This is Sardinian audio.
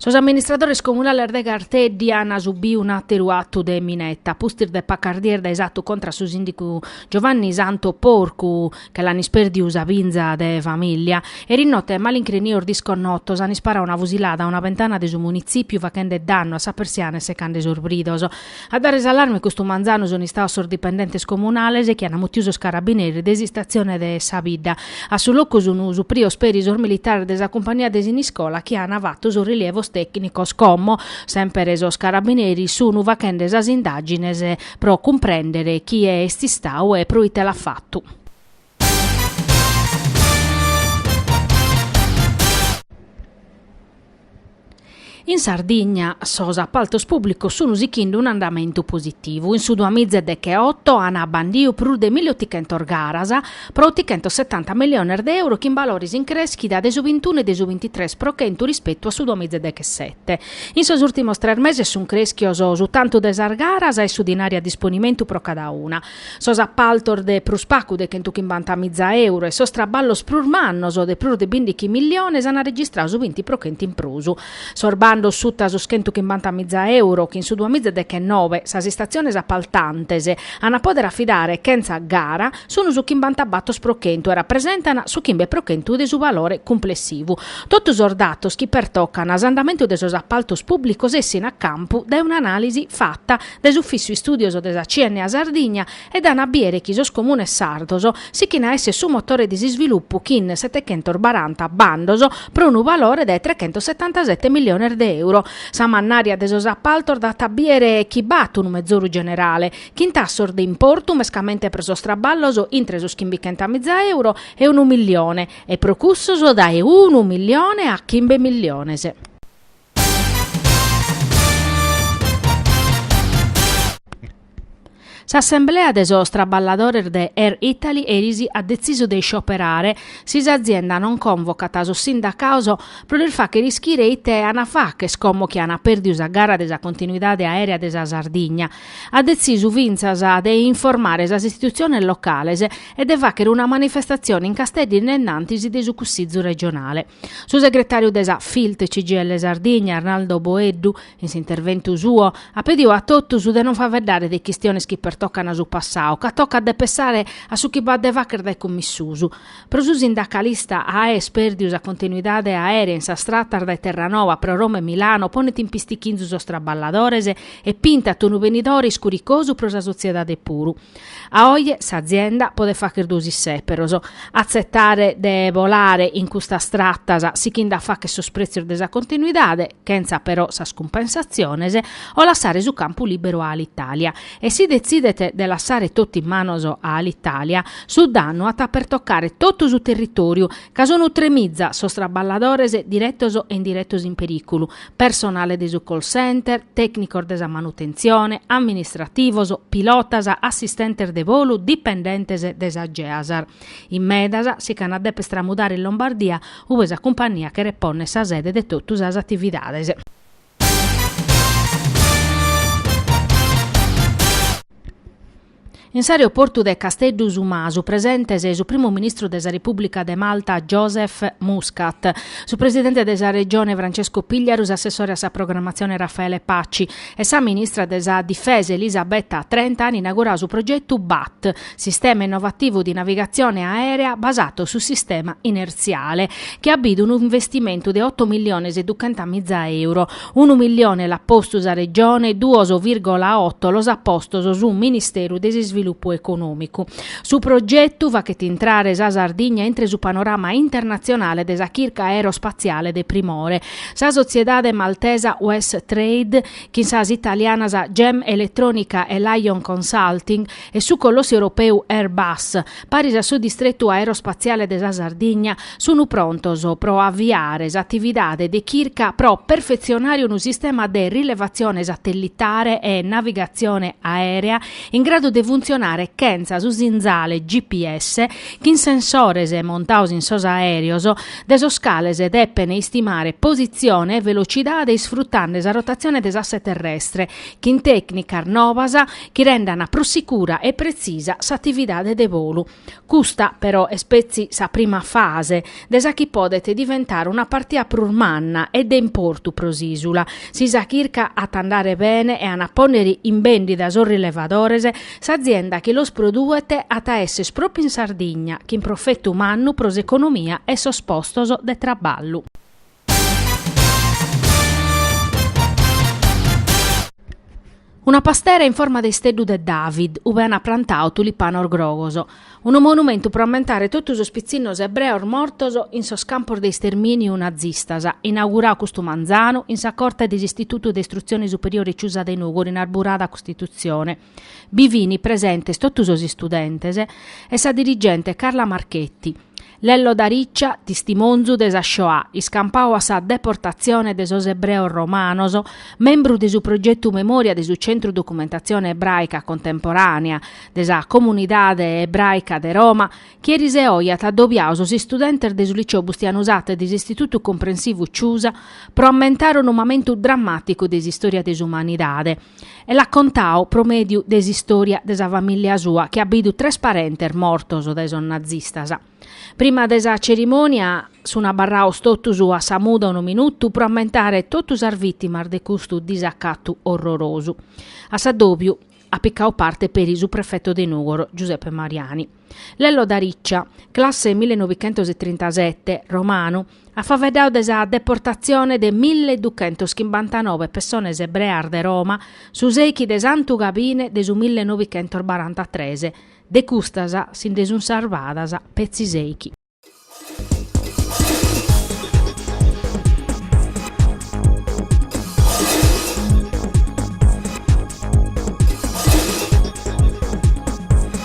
Sos amministradores comunales de Garteddi an subiu un'àteru atu de mineta, a pustis de pacas dies dae s'atu contra su sìndigu Giovanni Santo Porcu, che l'an ispèrdiu sa binza de famìllia. Erinote malincrinios disconnotos an isparau una fusilada a una bentana de su munitzìpiu fachende dannu a sa persiana e secande sos bridos. A dare s'allarme custu manzanu sunt istaos sos dipendentes comunales chi ant mutiu sos carabineris de s'istatzione de sa bidda. A su locu sunt suprios peri sos militares de sa cumpagnia de Siniscola chi ant fatu sos rilievos tècnicos. Como semper sos carabineris sunt fachende sas indàgines pro cumprèndere chie est istau e proite l'at fatu. In Sardigna sos apaltos pùblicos sun sichinde un'andamentu positivu. In su duamiza e decheoto an abbandiu prus de milli otichentos garas pro otichentos setanta milliones de euro chin balores in crèschida de su bintunu e de su bintitres pro chentu rispetu a su duamiza e dechesete. In sos ùrtimos tres meses sun crèschios su tantu de sas garas e su dinari a disponimentu pro cada una. sos appaltos de prus pacu de chentu chimbanta miza euro e sos traballos prus mannos de prus de bìndichi milliones an registrau su binti pro chentu in prus. Sos bandos suta sos chentu chimbanta miza euro chi in su duamiza e dechennobe sas istatziones appaltantes an a pòdere afidare chentza gara sun su chimbanta bator pro chentu e rapresentan su chimbe pro chentu de su valore cumplessivu. Totu sos datos chi pertocan s'andamentu de sos appaltos pùblicos essin a campu dae un'anàlisi fata dae s'Ufìtziu Istùdios de sa CNA Sardigna e dan a biere chi sos comunes sardos sichin a èssere su motore de s'isvilupu chin setechentos baranta bandos pro unu valore de trechentos setantasete milliones de euro. Sa mannària de sos apaltos dat a biere chi b'at unu mezoru generale chin tassos de importu mescamente pro sos traballos intre sos chimbichenta miza euro e unu millione e pro cussos dae unu millione a chimbe milliones. S'assemblea de sos traballadores de Air Italy eris at detzisu de iscioperare si s'azienda non convocat sos sindacaos pro lis fàchere ischire ite ant a fàcher como chi ant pèrdiu sa gara de sa continuidade aèrea de sa Sardigna. At detzisu fintzas de informare sas istitutziones locales e de fàchere una manifestatzione in Casteddu in denantis de su Cussizu regionale. Su segretàriu de sa Filt CGIL Sardigna, Arnaldo Boeddu, in s'interventu suo, at pediu a totus de non faveddare de chistiones chi pertocan su passau, ca tocat de pensare a su chi b'at de fàcher dae como in susu. Pro su sindacalista àer pèrdiu sa continuidade aèrea in sas tratas dae Terranova pro Roma e Milano ponet in pistichinzu sos traballadores e pintat unu benidore iscuricosu pro sa sotziedade puru. A oje s'azienda podet fagher duos isseperos, atzetare de bolare in custas tratas sighinde a fagher sos pretzios de sa continuidade, chentza però sas cumpensatziones, o lassare su campu lìberu a Alitalia. E si detzidet de lassare totu in manos a Alitalia, su dannu at a pertocare totu su territòriu, ca sunt tre miza sos traballadores diretos e indiretos in perìculu, personale de su call center, tècnicos de sa manutentzione, amministrativos, pilotas, assistentes de bolu, dipendentes de sa GEASAR. In medas si ch'an a dèpere stramudare in Lombardia, ube sa cumpania cheret pònnere sa sede de totu sas atividades. In s'aeroportu de Casteddu Su Masu presentes su primu ministru de sa Repùblica de Malta Joseph Muscat, su presidente de sa Regione Francesco Pigliaru, s'assessore a sa programmatzione Raffaele Paci e sa ministra de sa Difesa Elisabetta Trenta an inaugurau su progetu BAT, sistema innovativu de navigatzione aèrea basatu su sistema inertziale, chi at bidu unu investimentu de oto milliones e duchenta miza euro. Unu millione l'at postu sa Regione, duos vìrgola oto los at postos su Ministeru de s'Isvilupu Econòmicu. Su progetu faghet intrare sa Sardigna intre su panorama internatzionale de sa chirca aerospatziale de primore. Sa sotziedade maltesa Wes Trade chin sas italianas Gem Elettronica e Lion Consulting e su colossu europeu Airbus, paris a su distretu aerospatziale de sa Sardigna, sunt prontos pro aviare s'atividade de chirca pro perfetzionare unu sistema de rilevatzione satellitare e navigatzione aèrea in gradu de funtzionare chentza su sinzale GPS chin sensores montaos in sos aèreos, de sos cales depene istimare positzione e velocidade isfrutande sa rotatzione de s'asse terrestre. chin tècnicas nobas chi rendant prus sicura e pretzisa s'atividade de bolu. Custa, però, est petzi sa prima fase de sa chi podet diventare una partia prus manna e de importu pro s'ìsula. Si sa chirca at a andare bene e a pònnere in bèndida sos rilevadores, s'azienda chi los produet at a èssere pròpiu in Sardigna, chin profetu mannu pro s'economia e sos postos de traballu. Una pastera in forma de isteddu de David, ube ant prantau tulipanos grogos. Unu monumentu pro ammentare totu sos pitzinnos ebreos mortos in sos campos de istermìniu nazistas, inaugurau custu manzanu in sa corte de s'Istitutu de Istrutzione Superiore Ciusa de Nùgoro in Arburada Costitutzione. Bi fini presentes totu sos istudentes e sa dirigente Carla Marchetti. Lello Dell'Ariccia, tistimonzu de sa Shoah iscampadu a sa deportatzione de sos ebreos romanos, membru de su progetu Memòria de su Centru Documentatzione Ebràica Contemporànea de sa Comunidade Ebràica de Roma, chi eris e oi at adobiadu sos istudentes de su Liceo Bustianu Satta e de s'Istitutu Comprensivu Ciusa pro ammentare unu mamentu drammàticu de s'istòria de s'umanidade. e l'at contadu pro mèdiu de s'istòria de sa famìllia sua chi at bidu tres parentes mortos dae sos nazistas. Prima de sa cerimònia sun abarrados totus a sa muda unu minutu pro ammentare totu sas vìtimas de custu disacatu orrorosu. A s'addòbiu at picadu parte peri su prefetu de Nùgoro, Giuseppe Mariani. Lello Dell'Ariccia, classe millenovichentositrintasete, romanu, at faveddadu de sa deportatzione de milli duchentos chimbantanove pessones ebreas de Roma su sèichi de Santu Gabine de su milli novichentos barantatres, de custas si nde sunt sarvadas petzi sèichi.